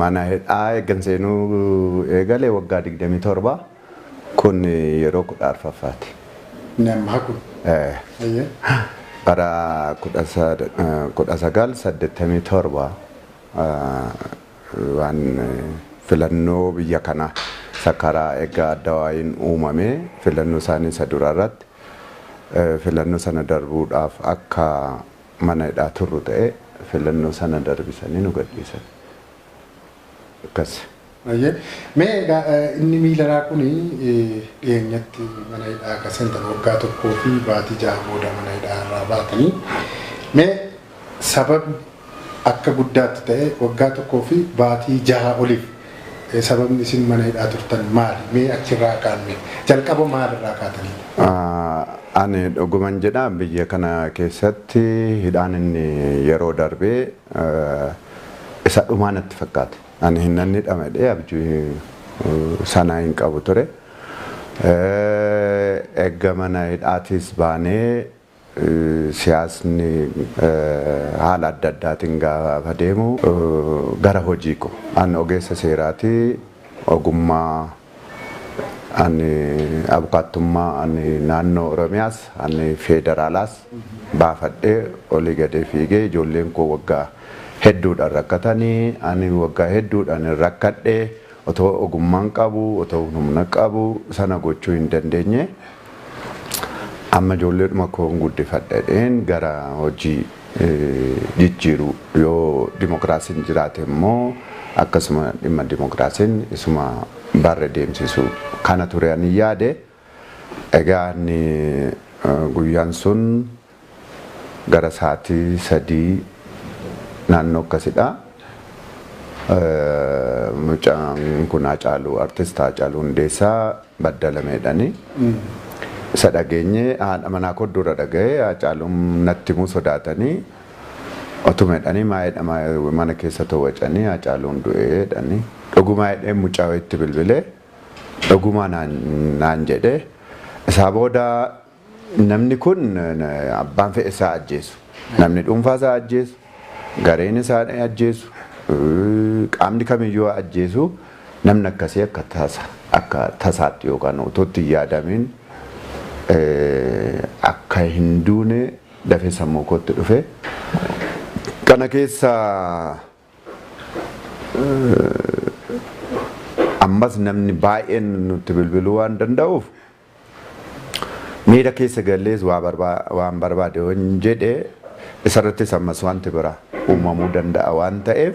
Mana hidhaa eeggan seenuu eegale waggaa 27 kun yeroo 14ffaati. Inni ammaa kun. Eh, Ayyee. bara 1987 ah, waan eh, filannoo biyya kanaa isa karaa egaa adda waa'iin uumame filannoo isaanii isa dura irratti eh, filannoo sana darbuudhaaf akka mana hidhaa turru ta'ee filannoo sana darbisanii nu gadhiisan. Akkasi. Hayyee. Mee egaa inni Miileraa kuni dhiyeenyatti mana hidhaa akka seentan waggaa tokkoo fi baatii ja'a booda mana hidhaa irraa baatanii mee sababni akka guddaatti ta'ee waggaa tokkoo fi baatii jahaa oliif Sababni isin mana hidhaa turtan maali? Mee achirraa kaanme. Jalqaba maal irraa kaatanii? A. Ani dhuguman jedha biyya kana keessatti hidhaan inni yeroo darbe isa dhumaa natti fakkaate. Ani hin nan hidhama jedhee abjuu sana hin qabu ture. Erga mana hidhaatiis baanee Siyaasni haala adda addaatiin gaafa deemu gara hojii koo ani ogeessa seeraati ogummaa ani abukaattummaa ani naannoo Oromiyaas ani feedaraalaas baafadhee olii gadee fiigee ijoolleen koo waggaa hedduudhaan rakkatanii ani waggaa hedduudhaan rakkadhee Otoo ogummaan qabu, otoo humna qabu sana gochuu hin dandeenye. Amma ijoolleedhuma koon guddifadha jedheen gara hojii jijjiiruu yoo dimokiraasiin jiraate immoo akkasuma dhimma dimokiraasiin isuma barre deemsisuu kana ture ani yaade. Egaa ani guyyaan sun gara sa'aatii sadii naannoo akkasidha. Mucaan kun Haacaaluu Artist Haacaaluu Hundeessaa badda lameedhani. Isa dhageenye haadha manaa koo dura dhaga'e Haacaaluun natti himuu sodaatanii otuma jedhanii maa jedha mana keessa too wacanii Haacaaluun du'e jedhanii. Dhugumaa jedheen mucaa wayiitti bilbilee. Dhugumaa naan jedhe. Isaa booda namni kun abbaan fedhe isaa ajjeesu. Namni dhuunfaa isaa ajjeesu, gareen isaa ajjeesu, qaamni kamiyyuu haa ajjeesu namni akkasii akka tasa akka tasaatti yookaan utuu itti hin yaadamiin akka hin duune dafee sammuu kootti dhufe. Kana keessa Ammas namni baay'een nutti bilbiluu waan danda'uuf miira keessa gallees waa barbaa waan barbaade yoon jedhe isarrattis ammas wanti biraa uumamuu danda'a waan ta'eef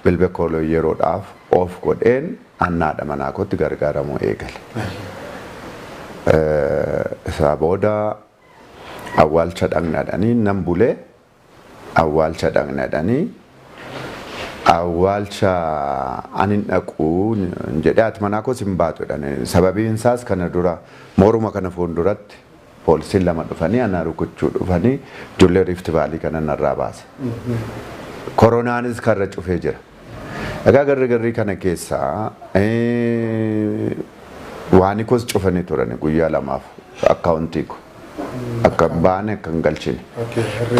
bilbila koo yeroodhaaf off godheen anna haadha manaa kootti gargaaramuu eegale. Isaa booda awwaalcha dhaqna jedhanii nan bule awwaalcha dhaqna jedhanii awwaalcha an hin dhaqu jedhe haati manaa koos hin baatu jedhan sababiin isaas kana dura mooruma kana fuulduratti poolisiin lama dhufanii ana rukuchuu dhufanii ijoollee riifti vaalii kana narraa baasa koronaanis karra cufee jira Egaa garri garrii kana keessa waani koos cufanii turani guyyaa lamaaf akkaawuntii ko akka baane akka hin galchine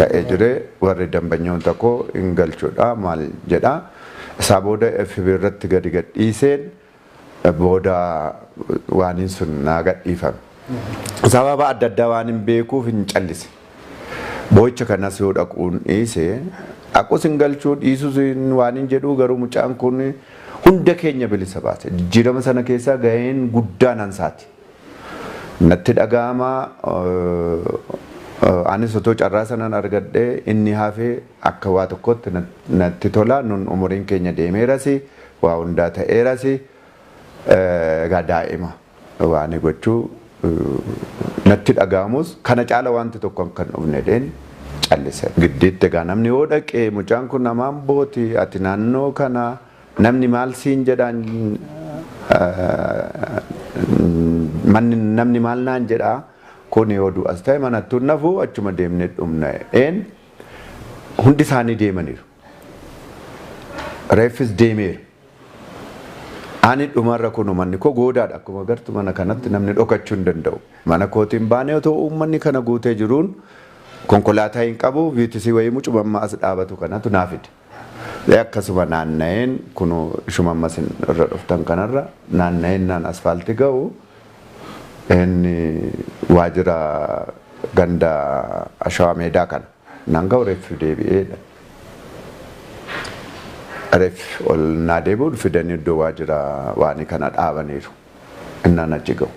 ta'ee jire warri dambanyoota koo hin galchudha maal jedha isaa booda FB irratti gadi gadhiiseen Booda waaniin sun naa gadhiifame. Sababa adda addaa waanin beekuuf hin callise. Boo'icha kanas yoo dhaquun dhiise, dhaqus hin galchuu, dhiisus hin waanin jedhuu garuu mucaan kun hunda keenya bilisa baase. Jijjiirama sana keessaa gaheen guddaan ansaati. Natti dhaga'ama, anis otoo carraa sanan argadhee inni hafe akka waa tokkootti natti tola, nun umuriin keenya deemeerasi, waa hundaa ta'eerasi egaa daa'ima waani gochuu natti dhaga'amus kana caala waanti tokko akka hin dhufne jedheen callise. Giddiitti egaa namni yoo dhaqe mucaan kun nama Ambooti ati naannoo kana namni maal siin jedhaan manni namni maal naan jedha kuni yoo du'as ta'e manattuu hin hafu achuma deemnee dhumna jedheen hundi isaanii deemaniiru. Reeffis deemeera. Ani dhumarra kunu manni koo goodaadha akkuma agartu mana kanatti namni dhokachuu hin danda'u. Mana kootiin baanee otoo uummanni kana guutee jiruun konkolaataa hin qabu viitisii wayii mucuma amma as dhaabatu kanatu naa fide. Ee akkasuma naanna'een kunu ishuma amma isin irra dhuftan kanarra naanna'een naan asfaaltii ga'u inni waajjira ganda ashawaa meedaa kana. Naan ka'u reeffi deebi'ee jedhan. Reeffi ol naa deebi'u fidanii iddoo waajjira waanii kana dhaabaniiru. Innaan achi ga'u.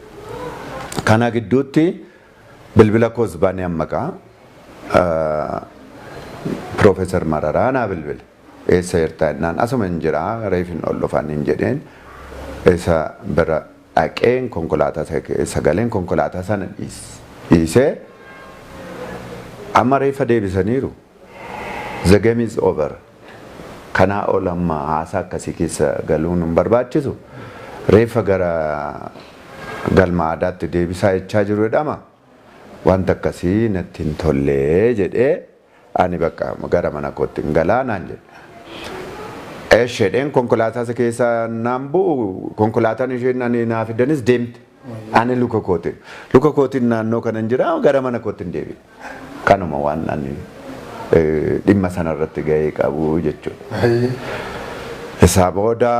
Kana gidduutti bilbila koos banee amma gaa Piroofeesar Mararaa naa bilbile. Eessa jirtaa jennaan asuma hin jiraa reefin ol dhufaniin jedheen isa bira dhaqeen konkolaataa sana keessa galeen konkolaataa sana dhiisee amma reeffa deebisaniiru the game is over kanaa ol amma haasaa akkasii keessa galuun hin barbaachisu reeffa gara galma aadaatti deebisaa jechaa jiru jedhama wanta akkasii natti hin tollee jedhee Ani bakka gara mana koottin galaa naan jedhe. Esh jedheen konkolaataasa keessa naan bu'u konkolaataan isheen ani naa fiddanis deemte. Ani luka kootiin. Luka kootiin naannoo kanan jira gara mana koottin deebi'e. Kanuma waan ani dhimma sanarratti gahee qabu jechuudha. Isaa booda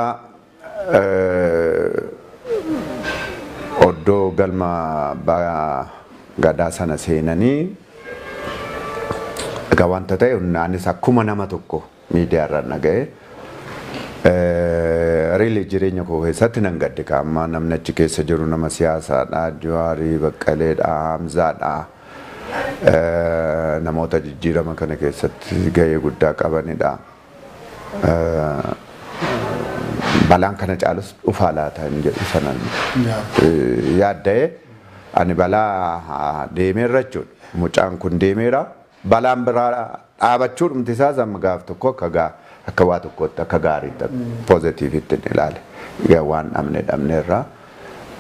Oddoo galma abbaa gadaa sana seenanii egaa wanta ta'e anis akkuma nama tokko miidiyaa irraan dhaga'e riili jireenya koo keessatti nan gadde ka amma namni achi keessa jiru nama siyaasaadha Juwaarii Baqqaleedha Hamzaadha namoota jijjiirama kana keessatti gahee guddaa qabanidha. balaan kana caalus dhufaa laata hin jedhu sanan yaadda'ee ani balaa deemeerra jechuudha. Mucaan kun deemeera. Balaan biraa dhaabachuu dhumti isaas amma gaaf tokko akka gaa akka waa tokkootti akka gaariitti akka poozitiivitti hin ilaale. Egaa waan dhabne dhabneerra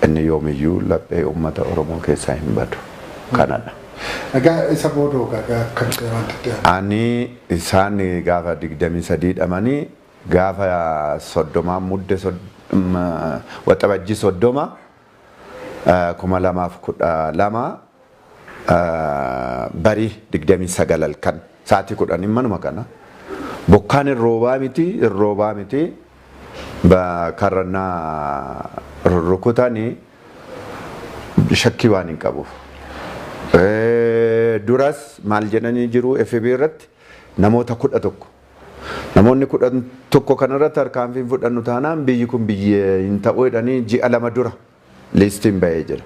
Inni yoomiyyuu laphee ummata Oromoo keessaa hin badu. Kanadha. Egaa isa booda hoo gaa kan ta'e wanti itti aanu? Ani isaan gaafa 23 dhamanii gaafa 30 mudde waxabajjii 30 2012 Bari 29 halkan sa'aatii 10 manuma kana bokkaan hin roobaa miti hin roobaa miti karra na rurrukutani shakkii waan hin qabuuf. Duras maal jedhanii jiru FB irratti namoota kudha tokko. Namoonni kudha tokko kanarratti harkaanfiin fudhannu taanaan biyyi kun biyya hin ta'u jedhanii ji'a lama dura. Liistiin ba'ee jira.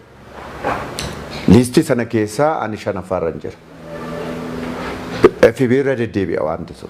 Liistii sana keessaa ani shanaffaarran jira. FB irra deddeebi'a waanti sun.